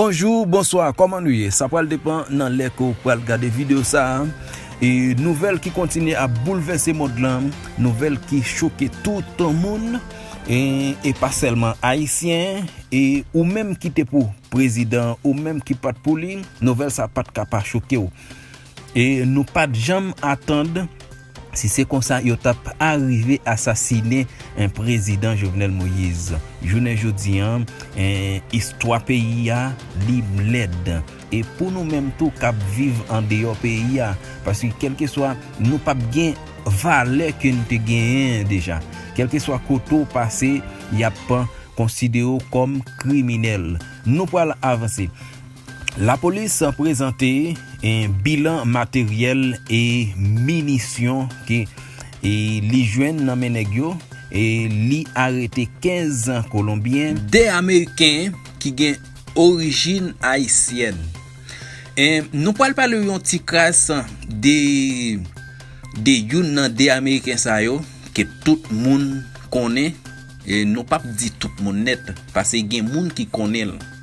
Bonjour bonsoir koman nou ye sa pral depan nan lè ke w pral gade video sa e nouvèl ki kontinye ap boulvèse mond lan nouvèl ki choke tout moun e pa sèlman ayisyen e ou menm ki te pou prezidan ou menm ki pat pou li nouvèl sa pat ka pa choke w. E nou pat janm atand si se konsa yo tap arive asasine prezidan Jovenel Moïse. Jounen jodi an istwa peyi a li lèd. E pou nou menm tou kap viv andeyò peyi a. Paske kelkeswa nou pap gen valè ke nou te genyen deja. Kelkeswa kote w pase yap konsidere w kom kriminel. Nou pwal avanse. Lapolis prezante bilan materyèl e minisyon ke li jwenn nan men nèg yo, li arete 15 kolonbyen, 2 ameriken ki gen orijin ayisyèn, nou pral pale yon ti kras de youn nan 2 ameriken sa yo ke tout moun konnen, nou pap di tout moun nèt pase gen moun ki konnen l.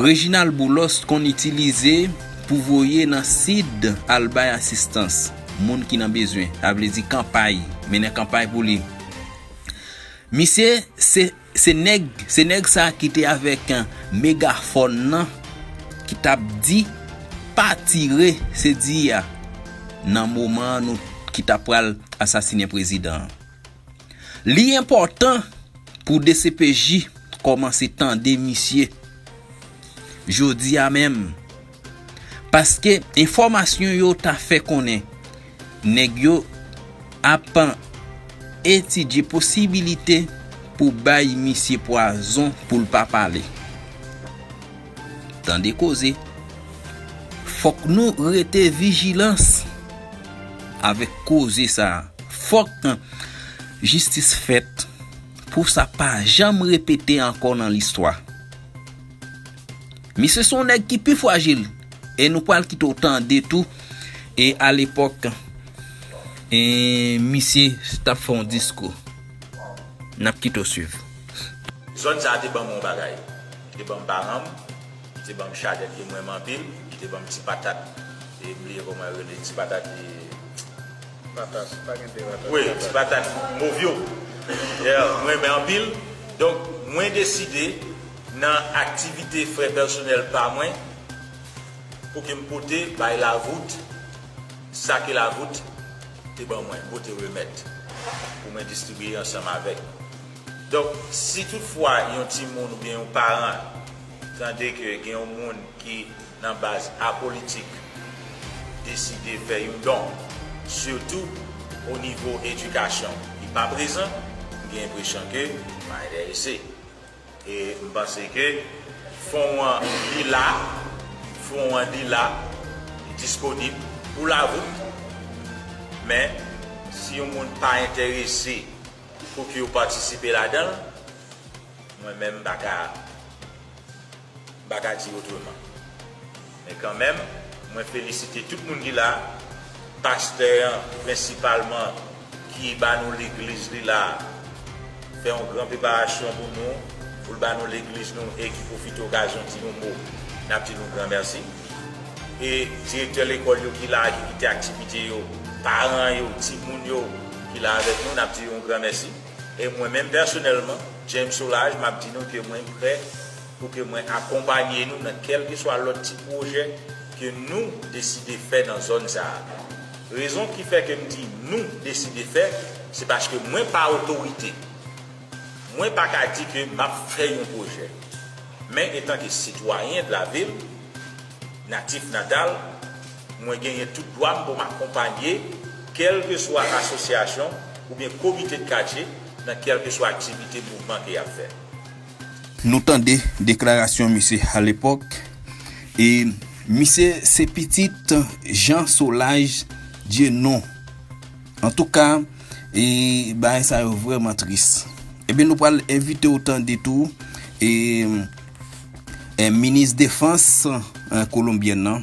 Reginald Boulos t konn itilize pou voye nan sid al bay asistans moun ki nan bezwen, sa vle di kanpay, mennen kanpay pou li. Misye se se nèg se nèg sa ki te avèk megafòn nan ki t ap di pa tire se di a nan moman nou ki t ap pral asasinen prezidan an. Li enpòtan pou dcpj kòmanse tande misye jodi a menm paske enfòmasyon yo ta fè konnen nèg yo ap etidye posibilite pou bay misye pwazon pou l pa pale. Tande koze. Fok nou rete vijilans avek koze sa. Fok jistis fet pou sa pa janm repete anko nan listwa. Misye son neg ki pi fwajil e nou pwal kite w tande tou e alepok e misye tap fon diskou. Nap kite w swiv. Zòn sa te banm yon bagay. Li te banm paran m, li te banm chadèt ke m renmen anpil, li te banm ti patat e m bliye kòman yo rele ti patat Patat, pa gen 2 patat. Wi, ti patat mov yo. Yeah, m renmen anpil. Donk mwen deside nan aktivite frè pèsonèl pa mwen pou ke m pote bay Lavout sa ke Lavout te ban mwen, m pote remèt pou mwen distribiye ansanm avèk Donk, si tout fwa yon timoun oubyen yon paran tande ke gen yon moun ki nan baz apolitik deside fè yon don, sitou o nivo edikasyon, li pa prezan, m gen enpresyon ke li pa enterese. E m panse ke fon an li la, fon an li la, li disponib pou lavout, men si yon moun pa enterese Fok yo patisipe ladan l mwen menm m pa ka m pa ka di otreman men kanmenm mwen felisite tout moun ki la pastè an prensipalman ki ba nou legliz li la fè yon gran preparasyon pou nou pou l ba nou legliz nou e ki pwofite okazyon di yon mo n ap di nou gran mèsi e direktè lekòl yo ki la ki kite aktivite yo paran yo timoun yo. ki la avèk nou, nap di yon gran mèsi. E mwen menm pèsonèlman, James Solages, map di nou ke mwen prè pou ke mwen akonpanye nou nan kèlkeswa lòt ti pwojè ke nou deside fè nan zòn sa a. Rezon ki fè ke m di nou deside fè, se paske mwen pa otorite. Mwen pa ka di ke map fè yon pwojè. Men etanke sitwayen de la ville, natif natal, Mwen genyen tout dwa m pou m akonpanye kèlkeswa asosyasyon oubyen komite de katye nan kèlkeswa aktivite mouvman ke y ap fè. Nou tande deklarasyon misye alepòk e misye se pitit Jean Solages Dieunonc. Antouka, e bagay sa yo vrèman tris. Ebyen nou pral envite w tande tou e minis defans kolonbyèn nan,